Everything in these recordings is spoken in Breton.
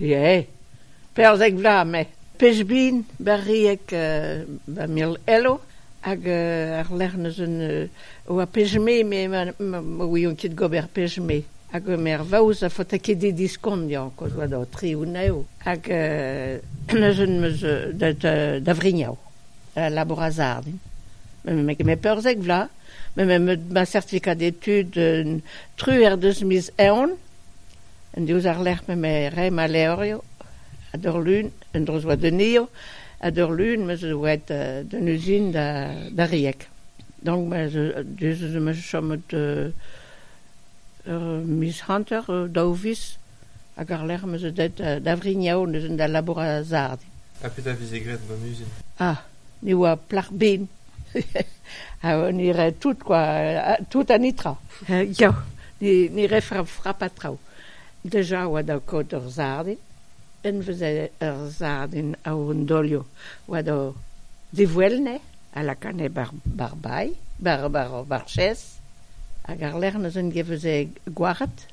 Ie, perzek vloaz me. Pezh bin, barriek ba mil elo, hag àr-lerc'h neuze e oa pezh-me me ma ouion ket gober pezh-me. Hag me ar vaouez a faota ket he diskoniañ koz 'oa do tri-unav. Hag neuze meus da Vrignau, da labour a-zard din. Me perzek vloaz, met ma certifikat d'études truer deus miz Eoun. diouzh ar lec'h m'emañ re ma levrioù ha d'ur lun en-dro 'z oa d'un hir ha d'ur lun ma 'z oa aet d'un uzin da Rieg donc diouzh ez eus chomet ur miz hanter daou viz hag ar lec'h ma 'z eus aet da Vrignau neuze da labourat a-zarn. Ha petra a veze graet gant an uzin? Ah! ne oa plac'h bin ha ne rae tout kwa tout an netra ya ne rae frap ha traoù deja oa da kaout ur sardin en veze ur sardin a-hont dolioù oa da diwelne a lakane bar bailh bar bar chaise hag àr-lerc'h neuze en veze gwaret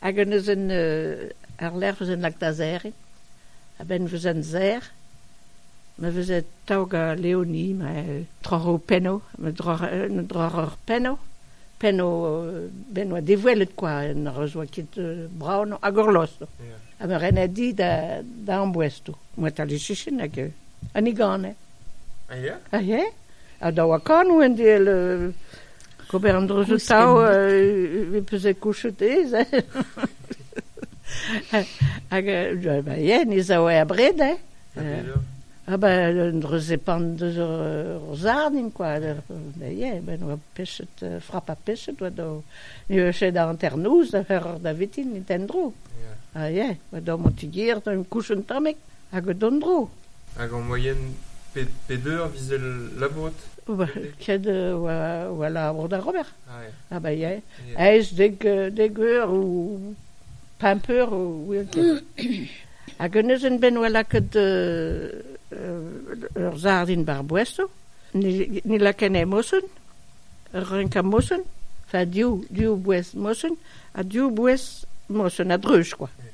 Hag en deus un àr-lerc'h 'veus un lak da serriñ. A-benn 'veus un serr, ma veze taok Leoni ma troc'h ho pennoù, ma droc'h ur pennoù, pennoù ben 'oa dewelet kwa, n'az oa ket brav noz, hag horlostoù. Ha ma rene di da da ambouestoù, mouetal e sichin hag an higane. A ya? A ya, ha da oa kanoù en-dehel Gober an droioù tav e peus kouchet aes hein hag ba yen ez a oa abred hein ha ba un dreuzepant deus hor zarnim kwa ba yen ben oa pechet frap ha pechet oa daou ni eche da hanternoz da c'heroc'h davetin et en-dro ha yen oa daou mantigier da 'n em kouchet tamek Hag d'an dro. Hag en moyenne pet eur vizell labourot Ket war labour da ober. Ha ba ya. Aes dek eur ou pemp eur ouian ket. Hag un ezenn-benn oa lakaet ur sardin bar boesoù. Ni lakane mosun, renkañ mosun, enfin div bouez mosun ha div bouez mosun a-dreuz kwa.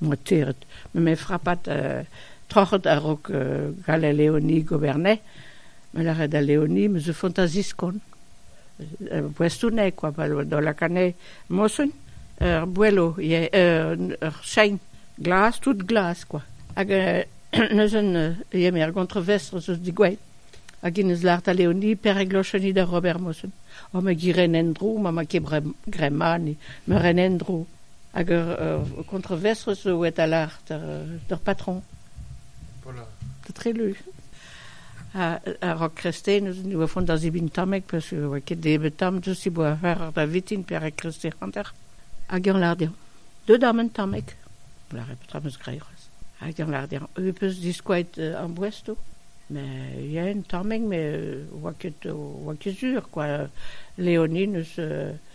moitiret. Me me frapat euh, troc'het a-raok euh, gall al leoni gobernay. Me lâret al leoni, me zo fantaziskon. Ur boestouneg quoi, pa dolak anezhe mosun. Ur boello, yeah, ur chein glas, tout glas quoi. Hag euh, neuzen euh, eo me ar gontrovestr eus digouet. Hag in eus lart al leoni per e glocheni da Robert Mosun. O ma giren en-dro, ma ma ket grema, ni me ren en-dro. Hag ur kontroversoù zo a-dalc'h d'ur patron. Da Trelu. Ha rak kristen e oa font da zebriñ tamek parce que e oa ket nebeut tamm just e boa war da vitin pe rak kristen hanter. Hag eñ lâr dezhañ deuet d'am un tamek. On lâre petra 'm eus graet c'hoazh. Hag eñ lâr dezhañ eu peus diskoaet am boestoù. Mais il y a un tamek, mais oa ket oa ket sur quoi. Léonie n'eus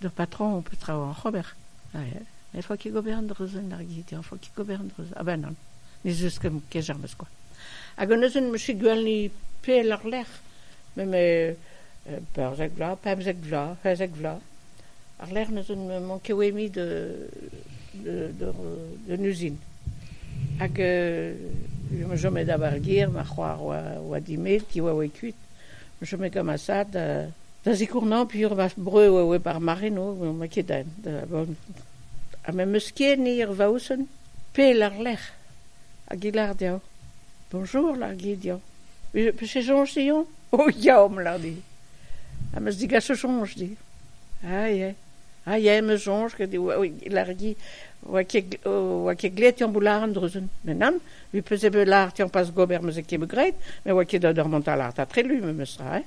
D'ur patron ho peus traoù oc'h ober. Met faot ket gober an dra-sen ar gizioù, faot ket gober an dra-se. A-benn on. Ne zeus ket james kwa. Hag an neuzen m'eus gwelni pell àr-lerc'h, met perzek vloaz, pemzek vloaz, pemzek vloaz. Àr-lerc'h neuzen m'on ket oe-mui d'un uzin. Hag ma chome da bar gêr, ma c'hoar oa dimet, he oa kuit. Ma chome gant ma sad Da zikournañ pir va breur eo eo ar mare no n'on ket aet ha me'meus ket ni er Vaouzon pell àr-lerc'h hag e lar deoc'h bonjour lar dit deoc'h peus e soñj deomp o ya omp lar dit ha meus digaso soñj dit a ya a ya meus soñj ket e lar dit oa ket oa ket graet deomp o lar an Druzun met nann me peus bet lâret deomp pas gober meus ket graet met oa ket deut ur mont da lar da trelu memes tra hein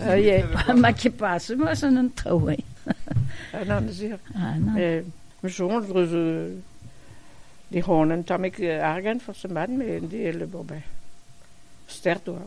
Oie, ma ket pas moas an an traoù eo. An amzer. Ma soñj eus di c'hoant an tammig argant forzh mat, met en di el le bourbain. Stert oa.